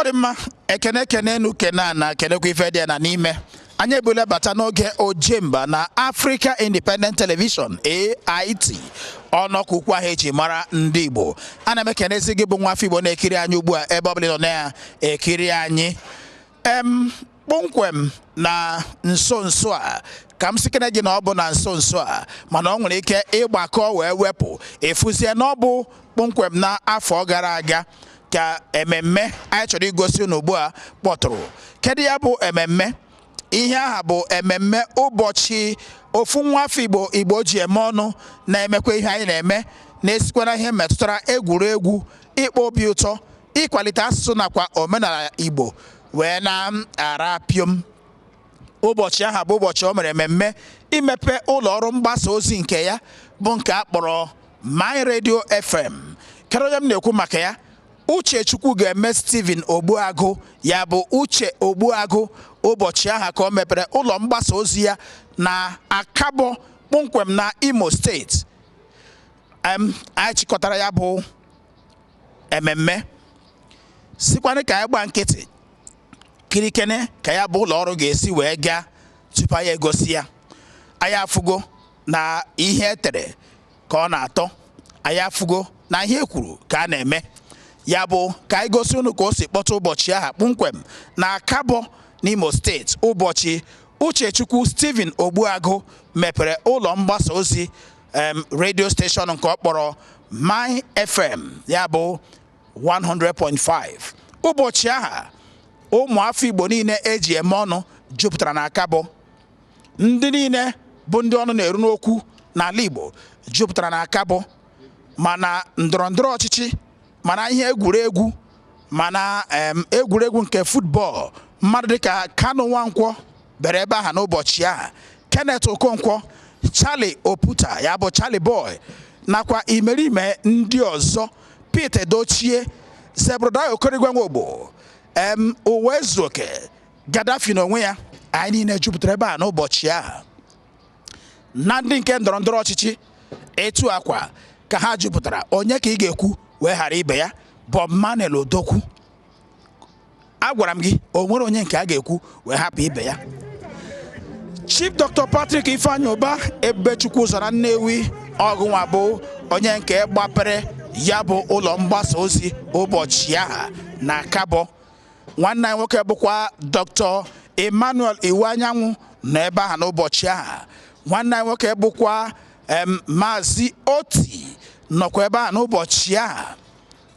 ọ dị mma ekene ekene enu kene ana kenekwa ife dị ya na n'ime anyị ebule bata n'oge ojemba na Africa Independent Television AIT ọnọkọ ukwu aha eji mara ndị Igbo ana m ekenezi gị bụ nwa afọ Igbo na-ekiri anyị ugbu a ebe ọ bụla ị nọ na-ekiri anyị em kpọmkwem na nso nso a ka m sikene gị na ọ bụ na nso nso a mana ọ nwere ike ịgbakọ wee wepụ ị fụzie na ọ bụ kpọmkwem na afọ gara aga ka ememme anyị chọrọ igosi unu ugbu a kpọtụrụ kedu ya bụ ememme ihe aha bụ ememme ụbọchị ofu nwa afọ igbo igbo ji eme ọnụ na-emekwa ihe anyị na-eme na-esikwa na ihe metụtara egwuregwu ịkpọ obi ụtọ ịkwalite asụsụ nakwa omenala Igbo wee na-ara piom ụbọchị aha bụ ụbọchị o mere mmemme imepe ụlọ ọrụ mgbasa ozi nke ya bụ nke a kpọrọ My Radio FM kedu onye m na-ekwu maka ya Uchechukwu ga-eme Stephen Ogbuagụ ya bụ Uche Ogbuagụ ụbọchị aha ka o mepere ụlọ mgbasa ozi ya na Akabọ kpọmkwem na Imo steeti anyị chịkọtara ya bụ ememme sikwanụ ka anyị gba nkịtị kirikene ka ya bụ ụlọ ọrụ ga-esi wee gaa tupu anyị egosi ya anyị afụgo na ihe etere ka ọ na-atọ anyị afụgo na ihe ekwuru ka a na-eme ya bụ ka anyị gosi unu ka o si kpọta ụbọchị aha kpọmkwem na akabọ n'imo steeti ụbọchị uchechukwu stephen ogbuagụ mepere ụlọ mgbasa ozi redio steshọn nke ọ kpọrọ my fm ya bụ 100.5 ụbọchị aha ụmụ afọ igbo niile eji eme ọnụ jupụtara na akabọ ndị niile bụ ndị ọnụ na-eru n'okwu n'ala igbo jupụtara na akabọ ma na ndọrọ ndọrọ ọchịchị ma na ihe egwuregwu ma na egwuregwu nke football mmadụ dịka Kanu Nwankwo bere ebe aha n'ụbọchị aha Kenneth Okonkwo Charlie Oputa ya bụ Charlie Boy nakwa imerime ndị ọzọ Pete Edochie Zebrudaya Okoroigwe Nwogbo em Ụwaezuoke Gaddafi n'onwe ya anyị niile jupụtara ebe aha n'ụbọchị aha na ndị nke ndọrọ ndọrọ ọchịchị etu a kwa ka ha jupụtara onye ka ị ga-ekwu wee ghara ibe ya Bob Manuel Udokwu agwara m gị o nwere onye nke a ga-ekwu wee hapụ ibe ya Chief Dr. Patrick Ifeanyi Ubah Ebubechukwuzọ na Nnewi ọgụnwa bụ onye nke gbapere ya bụ ụlọ mgbasa ozi ụbọchị aha na Akabọ nwanne anyị nwoke bụkwa dr emmanuel iwuanyanwụ nọ ebe ahụ n'ụbọchị ahụ nwanne anyị nwoke bụkwa em, maazị oti nọkwa ebe ahụ n'ụbọchị ahụ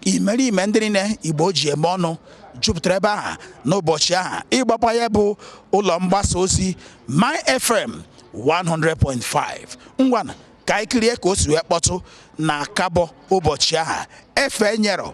imerime ndị niile igbo ji eme ọnụ jupụtara ebe ahụ n'ụbọchị ahụ ịgbape ya bụ ụlọ mgbasa ozi my fm 100.5 ngwana ka anyị kirie ka o si wee kpọtụ n'akabọ ụbọchị ahụ efe nyerọ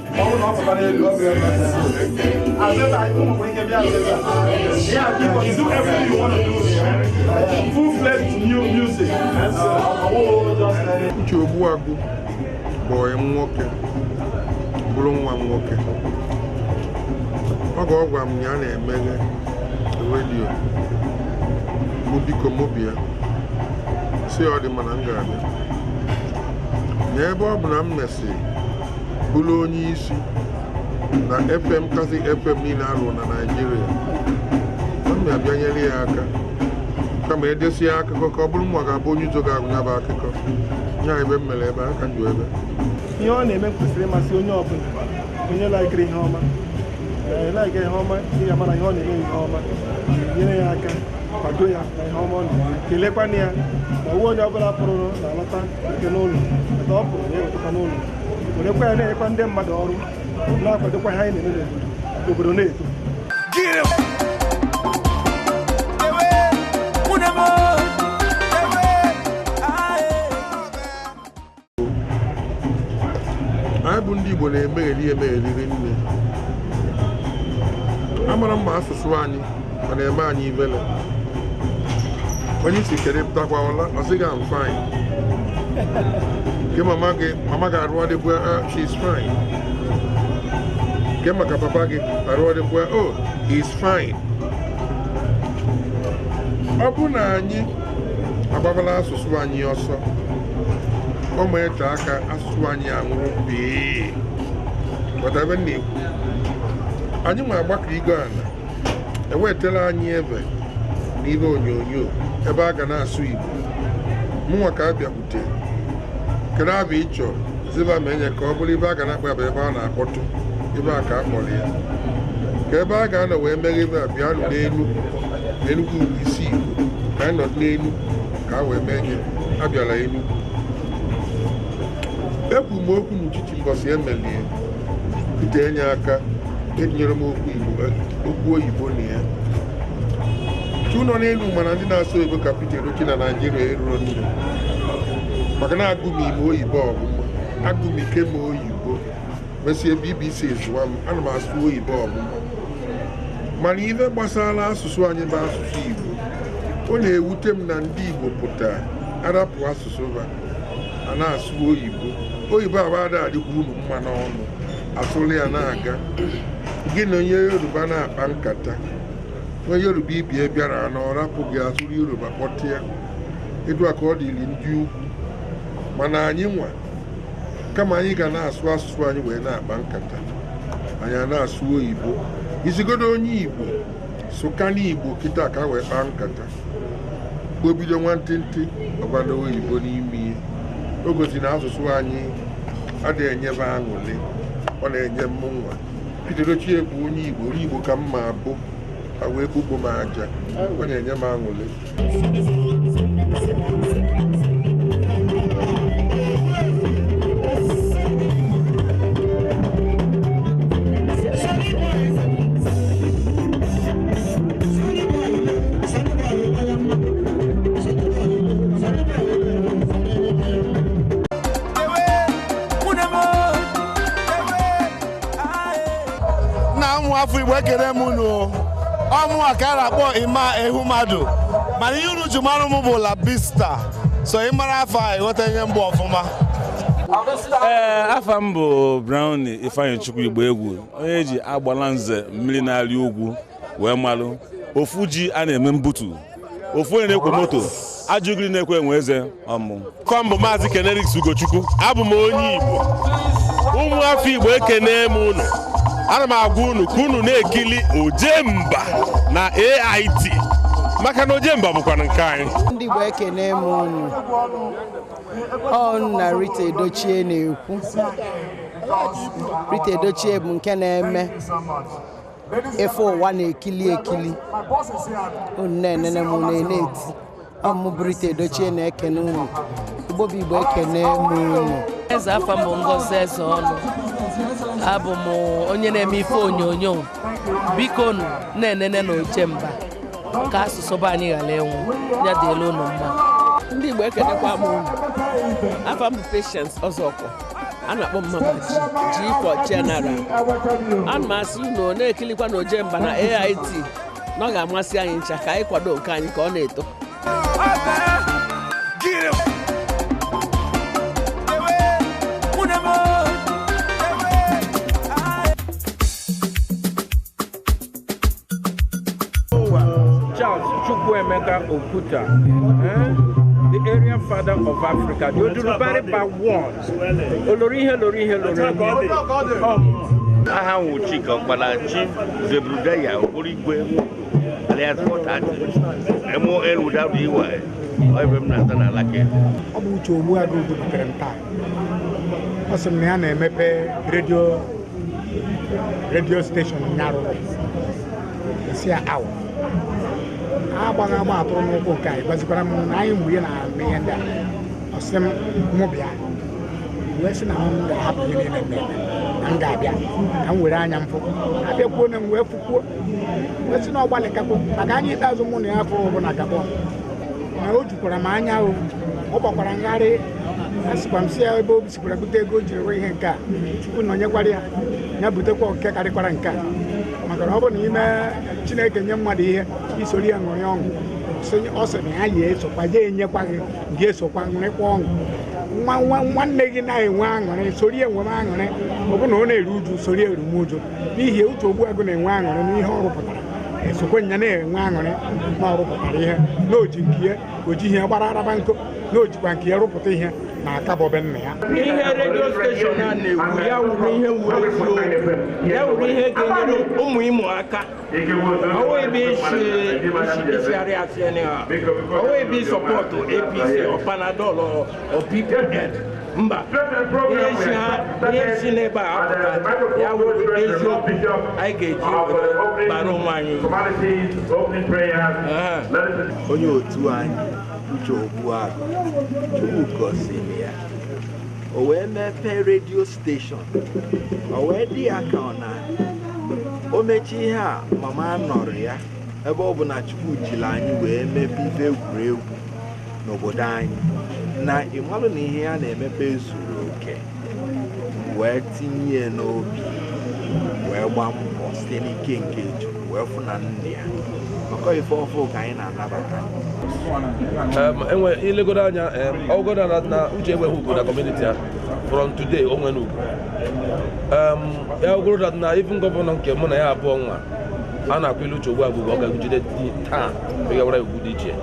Uche Ogbuagụ bụ enyi m nwoke bụrụ nwa m nwoke oge ọ gwara m na ya na-emeghe redio mụ biko mụ bịa sị ọ dị mma na m ga-abịa na ebe ọ bụ na m mesịrị bụrụ onye isi na fm kasị fm niile a rụrụ na naijiria a m abịa nyere ya aka kama edesịa akụkọ ka ọ bụrụ mụwa ga-abụ onye izizi ga-agụ ya bụ akụkọ nya ebe m mere ebe aka njụ ebe ihe ọ na-eme kwesịrị ịmasị onye ọbụla onye laikiri ihe ọma laikiri ihe ọma ị ga mara ihe ọ na-eme ihe ọma nyere ya aka kwado ya na ihe ọma ọ na-eme kelekwana ya ma ọ wụ onye ọbụla pụrụ na-alọta etu a n'ụlọ etu ọ pụrụ na-ewetakwa n'ụlọ werekwa ya na-enyekwa ndị mmadụ ọrụ na-akwadokwa ihe anyị na-eme n'obodo obodo na-eto anyị bụ ndị Igbo na-emegheri emegheri rinne amarọ mma asụsụ anyị ọ na-eme anyị ivele onye ị sị kedu ị pụtakwa ụla ọ sị gị am fine ke mama gị mama gị arụ ọ dịkwa ah, she is fine ke maka papa gị arụ ọ dịkwa oh he is fine ọ bụ na anyị agbabala asụsụ anyị ọsọ ọ ma eche aka asụsụ anyị anwụrụ pii whatever na-ekwu anyị nwe agbakọ igo ala ewetara anyị ebe na ihe onyonyo ebe a ga na-asụ Igbo mụnwa ka a bịakwute kedu aha ị chọrọ ziba ma enye ka ọ bụrụ ihe a ga na-akpọ ebe ebe a na-akpọtụ ihe a ka a kpọrọ ya ka ebe a ga-anọ wee mee ihe a bịanụ n'elu Enugu isi Igbo ka anyị nọ n'elu ka a wee mee ihe a bịara Enugu ekwu m okwu n'uchichi mbọsị emelie Pete enye aka etinyere m okwu Igbo okwu oyibo na ya tu nọ n'elu mana ndị na-asụ oyibo ka Pete Edochie na Naịjirịa eruro nne maka na agụ m ime oyibo ọfụma agụ m ike m oyibo mesie BBC zụa m ana m asụ oyibo ọfụma mana ife gbasara asụsụ anyị bụ asụsụ Igbo ọ na-ewute m na ndị Igbo pụta arapụ asụsụ ha a na-asụ oyibo oyibo abada adịkwa unu mma n'ọnụ asụrụ ya na-aga gị na onye yoruba na-akpa nkata onye yoruba ibe ya bịara na ọ rapụ gị asụrụ yoruba kpọtịa etu a ka ọ dịrị ndị ugwu mana anyị nwa kama anyị ga na-asụ asụsụ anyị wee na-akpa nkata anyị a na-asụ oyibo ị sịgodu onye igbo sụka n'igbo kịta ka wee kpaa nkata o bido nwantịntị ọ gbado oyibo n'ime ya o gosi na asụsụ anyị adịghị enyebe aṅụrị ọ na-enye mụ nwa Pete Edochie bụ onye igbo onye igbo ka m ga-abụ e wee kpukpo m aja ọ na-enye m aṅụrị afọ igbo ekele m unu ọ mụwa ka a na-akpọ Emma Ehumadu mana ihe unu ji mara m bụ Labista so ị mara afa a ị ghọta onye m bụ ọfụma ee afa m bụ Brown Ifeanyichukwu Igboegwu onye eji agbala nze mmiri na-arị ugwu wee malụ ofu ji a na-eme mbutu ofu onye na-ekwe moto ajụgiri na-ekwe enwe eze ọ mụ ka ọ bụ maazị Ken Erics Ugochukwu abụ m onye igbo ụmụ afọ igbo ekene m unu ana m agwa unu ka unu na-ekili ojemba na ait maka na ojemba bụkwa nke anyị ndị igbo ekene m unu ọ nna Rita Edochie na-ekwu Rita Edochie bụ nke na-eme ife ụwa na-ekili ekili unu na-enene m unu na-eti ọ mụ bụ Rita Edochie na-ekene unu Igbo bụ Igbo ekene m unu eze afa m bụ Ngozi Ezeonu abụ m onye na-eme ife onyonyo biko unu na-enene na Ojemba ka asụsụ be anyị ghara ịnwụ ya dịlị ụnụ mma ndị Igbo ekenekwa m unu afa m bụ Patience Ọzọkwọ a na-akpọ Mama G G for General ana m asị unu na-ekilikwa na Ojemba na AIT na ọ ga-amasị anyị ncha ka anyị kwado nke anyị ka ọ na-eto Chukwuemeka Oputa, eh? the area father of Africa, the Odudubariba one. Olori ihe lori ihe lori ihe. Aha m wụ Chika Okpala Chief Zebrudaya Okoroigwe Alias four thirty, MON without EY, ọ ebe m na-ata n'ala ka elu. ọ bụ Uche Ogbuagụ butere m taa ọ sị m na ya na-emepe redio redio steshọn nyarụ si ya awa agbaghị agba atụrụ n'ụkwụ nke anyị gwazikwara m na anyị mgbe ya na-eme ihe ndị a ọ sị m mụ bịa wee sị na m ga-ahapụ ihe niile m na-eme na m ga-abịa ka m were anya m fụ abịakwuona m wee fụkwuo asị na ọ gbalị kakpọ maka anya ikpeazụ mụ na ya fụrụ bụ na kakpọ na o jukwara m anya ahụ ọ gbakwara ngharị asịkwa m si ya ebe o sikwara bute ego o jiri rụọ ihe nke a Chukwu nyekwara ya ya butekwa nke karịkwara nke a maka na ọ bụ na ime Chineke nye mmadụ ihe i soro ya ṅụrị ọṅụ sị- ọ sị na ya ya esokwa ya enyekwa gị gị esokwa ṅụrịkwa ọṅụ nwa nwa nwanne gị na-enwe aṅụrị soro ya enwe aṅụrị ọ bụ na ọ na-eru uju soro ya eru m uju n'ihi Uche Ogbuagụ na-enwe aṅụrị n'ihe ọ rụpụtara esokwe nya na-enwe aṅụrị na ọ rụpụtara ihe na o ji nke ya o ji ihe gbara araba nkụ na o jikwa nke ya rụpụta ihe na Akabo be nna ya ihe redio steshọn a na-ekwu ya wụrụ ihe wụrụ eziokwu ya wụrụ ihe ga-enyere ụmụ Imo aka Ọ wụghị judiciary asiẹni ha. Ọ wụghị support APC or Panadol or or PPN. Mba, ihe si ha ihe si n'ebe a apụta ya wụrụ eziokwu anyị ga-eji were bara onwe anyị. Aha. onye otu anyị Uche Ogbuagụ Chukwu gọziri ya o wee mepee redio steshọn o wee dị ya ka ọ na o mechi ihe a mama nọrọ ya ebe ọ bụ na Chukwu jiri anyị wee mebe ife egwuregwu n'obodo anyị na ịmalụ na ihe ya na-emepe zuru oke wee tinye n'obi wee gbaa mbọ site n'ike nke Chukwu wee fụ na ndị ya maka ife ọfụ ka anyị na-anabata enwe i legodo anya ọgụgụ na Uche enweghị ugwu na kọmuniti a from today o nwere ugwu ya ogoro that na even gọvanọ nke mụ na ya abụọ nwa a na-akwa ilu uche ugbu a bụbụ ọ ga-agụjide taa megawara ugwu dị iche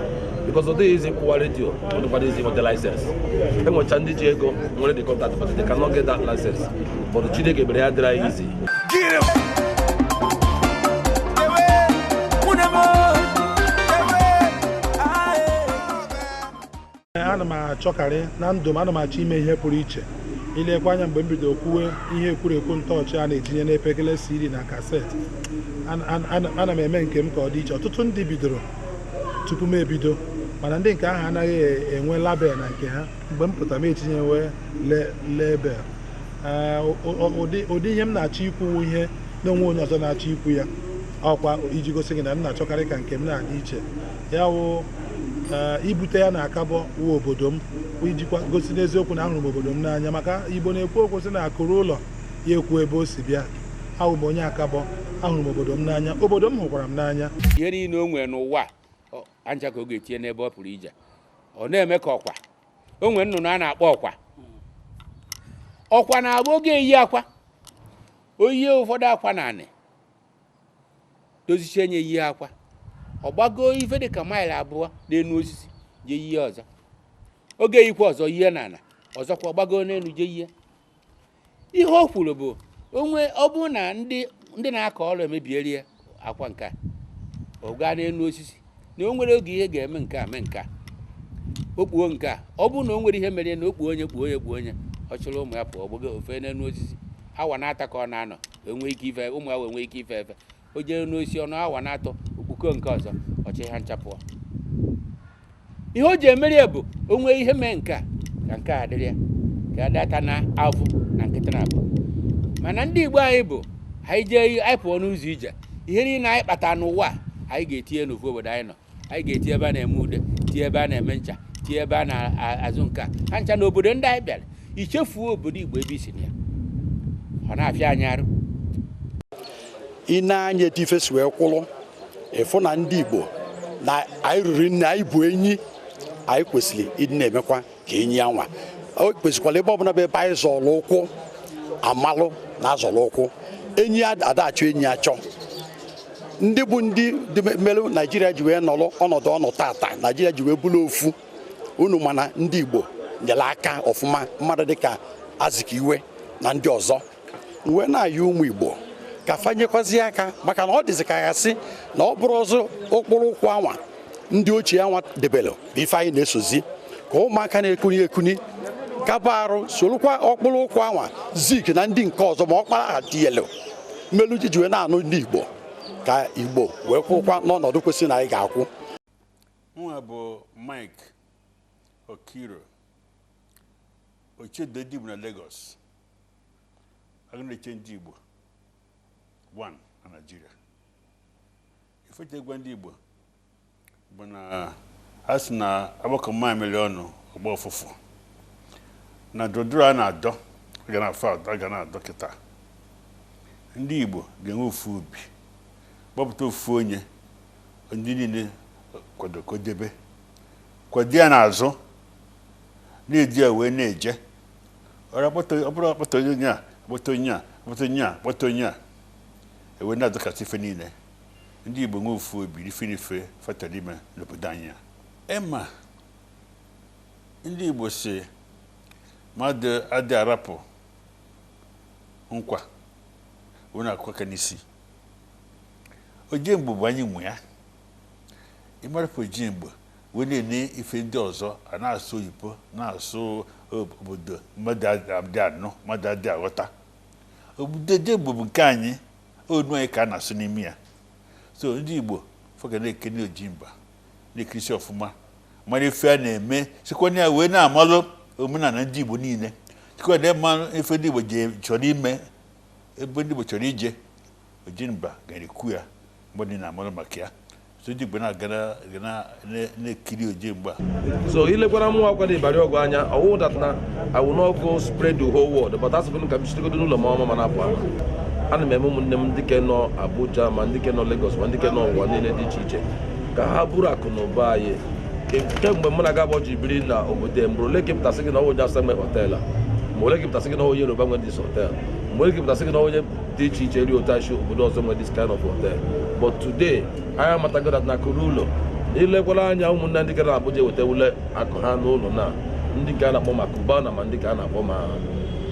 because ọ dịghị easy kwụwa redio ọ dịkwara easy nweta license enwecha ndị ji ego nwere the contact but they cannot get that license but Chineke mere ya dịrị anyị easy ana m achọkarị na ndụ m ana m achọ ime ihe pụrụ iche i lekwa anya mgbe m bido kwuwe ihe e kwuru ekwu ntọ ọchị a na-etinye n'epekele CD na kaseti ana m eme nke m ka ọ dị iche ọtụtụ ndị bidoro tupu m ebido mana ndị nke ahụ anaghị enwe label na nke ha mgbe m pụtara m etinyewe label ụdị ihe m na-achọ ikwu wụ ihe na onwe onye ọzọ na-achọ ikwu ya ọkwa iji gosi gị na m na-achọkarị ka nke m na-adị iche ya wụ eh, ibute ya na akabo wụ obodo m ijikwa gosi n'eziokwu na ahụrụ m obodo m n'anya maka igbo na-ekwu okwu sị na akụ ruo ụlọ ya ekwuo ebe o si bịa awụ m onye akabo ahụrụ m obodo m n'anya obodo m hụkwara m n'anya ihe niile o nwere n'ụwa a ncha ka ọ ga-etinye n'ebe ọ pụrụ ije ọ na-eme ka ọkwa o nwere nnụnụ a na-akpọ ọkwa ọkwa na-abụ ọ ga-eyi akwa o yie ụfọdụ akwa n'anị dozichie nye yie akwa ọ gbagoo ife dị ka maịlị abụọ n'elu osisi jee yie ọzọ ọ ga-eyikwa ọzọ yie n'ana ọzọkwa ọ gbagoo n'elu jee yie ihe o kwuru bụ onwe ọ bụrụ na ndị ndị na-akọ ọrụ emebieri ya akwa nke a ọ gaa n'elu osisi na o nwere oge ihe ga-eme nke a mee nke a o kpuo nke a ọ bụrụ na o nwere ihe mere na o kpuo onye kpuo onye kpuo onye ọ chịrị ụmụ ya pụọ gbago ofe n'elu osisi awa na-ata ka ọ na-anọ enwee ike ife ụmụ ya wee nwee ike ife efe o jee n'osisi awa na-atọ o kpukọọ nke ọzọ ọ chị ha ncha pụọ ihe o ji emeri ya bụ o nwee ihe mee nke a ka nke a dịrị ya ka a data na avụ na nkịta na abụ mana ndị igbo anyị bụ anyị jee anyị pụọ n'ụzọ ije ihe niile anyị kpata n'ụwa anyị ga-etinye n'ofu obodo anyị nọ anyị ga-etie ebe a na-eme ude tie ebe a na-eme ncha tie ebe a na-azụ nke a ha ncha na obodo ndị anyị bịara ichefuo obodo igbo ebe i si na ya ọ na-afịa anyị arụ i nee anya etu ife si wee kwụrụ ị fụ na ndị igbo na anyị ruru nne anyị bụ enyi anyị kwesịrị ịdị na-emekwa ka enyi ya nwa o kwesịkwara ebe ọbụla bụ ebe anyị zọrọ ụkwụ a malụ na a zọrọ ụkwụ enyi ada achọ enyi achọ ndị bụ ndị dị me- mere naijiria ji wee nọrọ ọnọdụ ọ nọ tata naijiria ji wee bụrụ ofu unu ma na ndị igbo nyere aka ọfụma mmadụ dịka azikiwe na ndị ọzọ wee na-ayọ ụmụ Igbo ka fa nyekwazi aka maka na ọ dịzị ka a sị na ọ bụrọ ụzọ ọkpụrụ ụkwụ anwa ndị ochie anwa debere bụ ife anyị na-esozi ka ụmụaka na-ekuni ekuni kaba arụ sorokwa ọkpụrụ ụkwụ anwa Zik na ndị nke ọzọ ma Okpara ha tiyelu mmelu ji ji wee na-anụ ndị Igbo ka Igbo wee kwụkwa n'ọnọdụ kwesịrị na anyị ga-akwụ nwa bụ Mike Okiro ochedo dịbu na Lagos a ga na-eche ndị Igbo nọ na Naịjirịa ife e je-agwa ndị Igbo bụ na a sị na a gbakọọ mamịrị ọnụ ọ gbọọ ụfụfụ na ndọrọndọrọ a na-adọ a ga na-adọ kịta ndị Igbo ga-enwe ofu obi kpọpụta ofu onye ndị niile kwado kwụdebe kwado ya n'azụ na-eji ya wee na-eje ọra kpọta ọ bụrụ akpọta onye onye a kpọta onye a kpọta onye a kpọta onye a ewe na-adọkasị ife niile ndị igbo nwe ofu obi ife n'ife fatara ime n'obodo anyị a ema ndị igbo si mmadụ adị arapụ nkwa wee na-akụ aka n'isi oje mgbo bụ anyị nwe ya ịmarapụ oje mgbo wee na-ene ife ndị ọzọ a na-asụ oyibo na-asụ obodo mmadụ adị anụ mmadụ adị aghọta but Ojemba bụ nke anyị onu anyị ka a na-asụ n'ime ya so ndị igbo fa ga na-ekene Ojemba na-ekirisi ọfụma mara ife a na-eme sikwa na ya wee na-amalụ omenala ndị igbo niile sikwa na ya malụ ife ndị igbo chọrọ ime ebe ndị igbo chọrọ ije Ojemba ga na-ekwu ya mgbe niile a mara maka ya so ndị Igbo na-aga na- ga na- na- na-ekiri Ojemba So i lekwara mụ akwado Ibari Ogwa anya ọwụ that na I will not go spread the whole world but asịbụ m ka m chitegodo n'ụlọ m ọma ma na-apụ apụ ana m eme ụmụnne m ndị ke nọ Abuja ma ndị ke nọ Lagos ma ndị ke nọ ụwa niile dị iche iche ka ha buru akụ na ụba anyị Ke- kemgbe mụ na gị abụọ ji biri na obodo a, mgbe ole ka a pụta sị gị na ọwụ onye Awụsa nwe họtel a mgbe ole ka a pụta sị gị na ọwụ onye Yoruba nwe this họtel mgbe ole ka a pụta sị gị na ọwụ onye dị iche iche ri otachi obodo ọzọ nwere this kind of hotel but today anyị amatago that na akụ ruo ụlọ i lekwara anya ụmụnne ndị gara Abuja wetawale akụ ha n'ụlọ na ndị nke a na-akpọ ma Cubana ma ndị ke a na-akpọ ma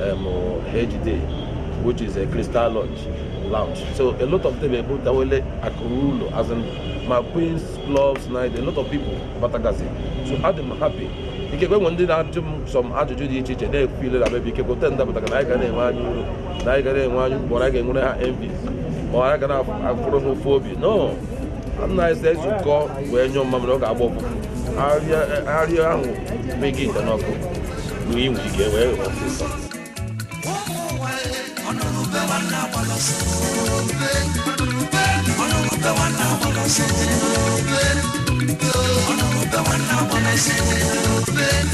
em, HD which is a crystal lounge lounge so a lot of them ebutawele akụ ruo ụlọ as in ma queens clubs night a lot of people batagazi so adị m happy ikekwe nwe ndị na-ajụ m some ajụjụ dị iche iche na-ekwu ile na mebi ikekwe ten dapụtara na anyị ga na-enwe anya uru na anyị gara enwe anyị ugboro anyị ga-enwere ha envy ma anyị gara afụrụ ha ụfụ obi no na anyị si ezukọ wee nyụọ mmamịrị ọ ga-agba ụfụfụ arịa ahụ meghị ite n'ọkụ na inwe ike wee ghọọ ọsịsọ Thank you.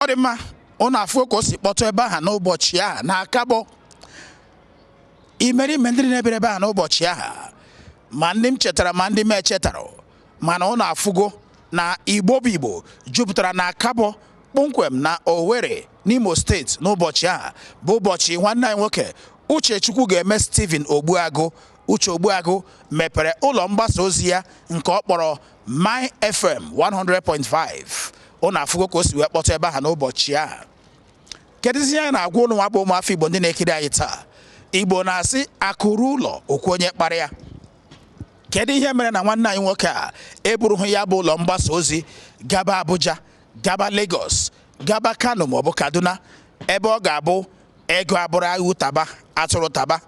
ọ dị mma ụnụ afụgo ka o si kpọtụ ebe ahụ n'ụbọchị ahụ na Akabọ imerime ndị na-ebere ebe ahụ n'ụbọchị ahụ ma ndị m chetara ma ndị m echetara mana ụnụ afụgo na Igbo bụ Igbo jupụtara na Akabọ kpọmkwem na Owerri n'Imo steeti n'ụbọchị ahụ bụ ụbọchị nwanne anyị nwoke Uchechukwu ga-eme Stephen Ogbuagụ Uche Ogbuagụ mepere ụlọ mgbasa ozi ya nke ọ kpọrọ My FM 100.5 ụnụ afụgo ka o si wee kpọtụ ebe ahụ n'ụbọchị ahụ kedụzi ihe anyị na-agwa ụnụ nwa bụ ụmụafọ Igbo ndị na-ekiri anyị taa Igbo na-asị akụ ruo ụlọ o kwuo onye kpara ya kedu ihe mere na nwanne anyị nwoke a eburughị ya bụ ụlọ mgbasa ozi gaba Abuja gaba Lagos gaba Kano maọbụ Kaduna ebe ọ ga-abụ ego abụrụ ewu taba atụrụ taba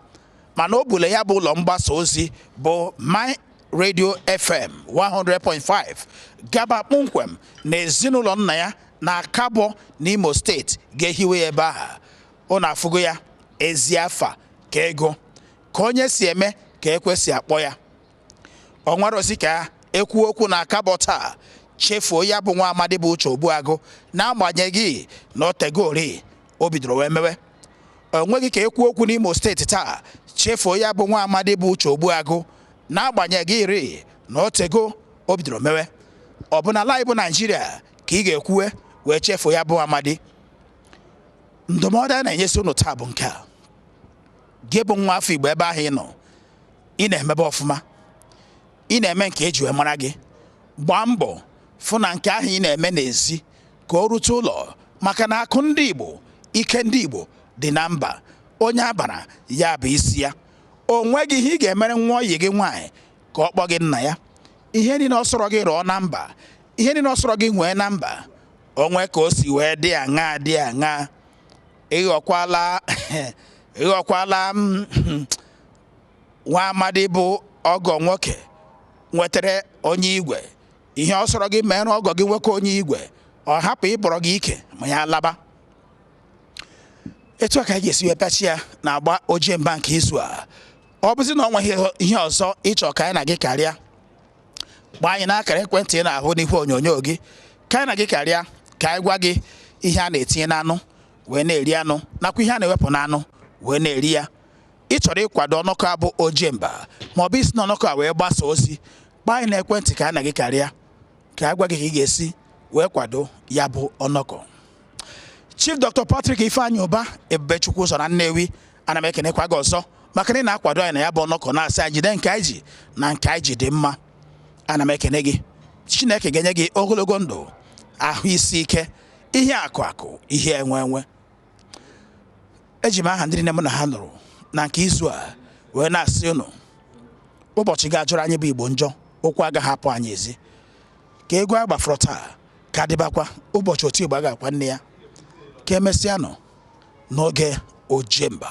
mana o bule ya bụ ụlọ mgbasa ozi bụ My Radio FM 100.5 gaba kpọmkwem na ezinụlọ nna ya na Akabọ n'Imo steeti ga-ehiwe ya ebe ahụ ụnụ afụgo ya ezi afa ka ego ka onye si eme ka ekwesị akpọ ya o nwerọzi ka ekwu okwu na Akabọ taa chefuo ya bụ nwa amadi bụ uche ogbuagụ n'agbanyeghị na o tego ri o bidoro wee mewe o nweghị ka ekwu okwu n'Imo steeti taa chefuo ya bụ nwa amadi bụ uche ogbuagụ n'agbanyeghị ri na o tego o bidoro mewe ọ bụ na ala anyị bụ Naijiria ka ị ga-ekwuwe wee chefuo ya bụ amadi ndụmọdụ a na-enyezi ụnụ taa bụ nke a gị bụ nwa afọ Igbo ebe ahụ ị nọ ị na-emebe ọfụma ị na-eme nke e ji wee mara gị gbaa mbọ fụ na nke ahụ ị na-eme n'ezi ka o rute ụlọ maka na akụ ndị Igbo ike ndị Igbo dị na mba onye abara ya bụ isi ya o nweghị ihe ị ga-emere nwa oyi gị nwaanyị ka ọ kpọọ gị nna ya ihe niile ọ sọrọ gị rụọ na mba ihe niile ọ sọrọ gị nwee na mba o nwee ka o si wee dị aṅaa dị aṅaa ịghọkwala ịghọkwala m nwa amadi bụ ọgọ nwoke nwetara onye igwe ihe ọ sọrọ gị meere ọgọ gị nwoke onye igwe ọ hapụ ịbọrọ gị ike ma ya laba etu a ka anyị ga-esi wee pịachie ya n'agba ojemba nke izu a ọ bụzi na o nwee ihe ọzọ ị chọ ka anyị na gị karịa kpọọ anyị n'akara ekwentị ị na-ahụ n'ihu onyonyo gị ka anyị na gị karịa ka anyị gwa gị ihe a na-etinye n'anụ wee na-eri anụ nakwa ihe a na-ewepụ n'anụ wee na-eri ya ị chọrọ ịkwado ọnọkọ a bụ ojemba ma ọ bụ isi n'ọnọkọ a wee gbasa ozi kpọọ anyị n'ekwentị ka anyị na gị karịa ka anyị gwa gị ka ị ga-esi wee kwado ya bụ ọnọkọ Chief Dr. Patrick Ifeanyi Ubah Ebubechukwuzọ na Nnewi ana m ekenekwa gị ọzọ maka na ị na-akwado anyị na ya bụ ọnọkọ na-asị anyị jide nke anyị ji na nke anyị ji dị mma ana m ekene gị Chineke ga-enye gị ogologo ndụ ahụ isi ike ihe akụ akụ ihe enwe enwe eji m aha ndị niile m na ha nọrọ na nke izu a wee na-asị unu ụbọchị ga-ajọrọ anyị bụ Igbo njọ ụkwụ agaghị apụ anyị ezi ka egwu a gbafọrọ taa ka dịbakwa ụbọchị oti ịgba ga-akwa nne ya ka emesịanụ n'oge ojemba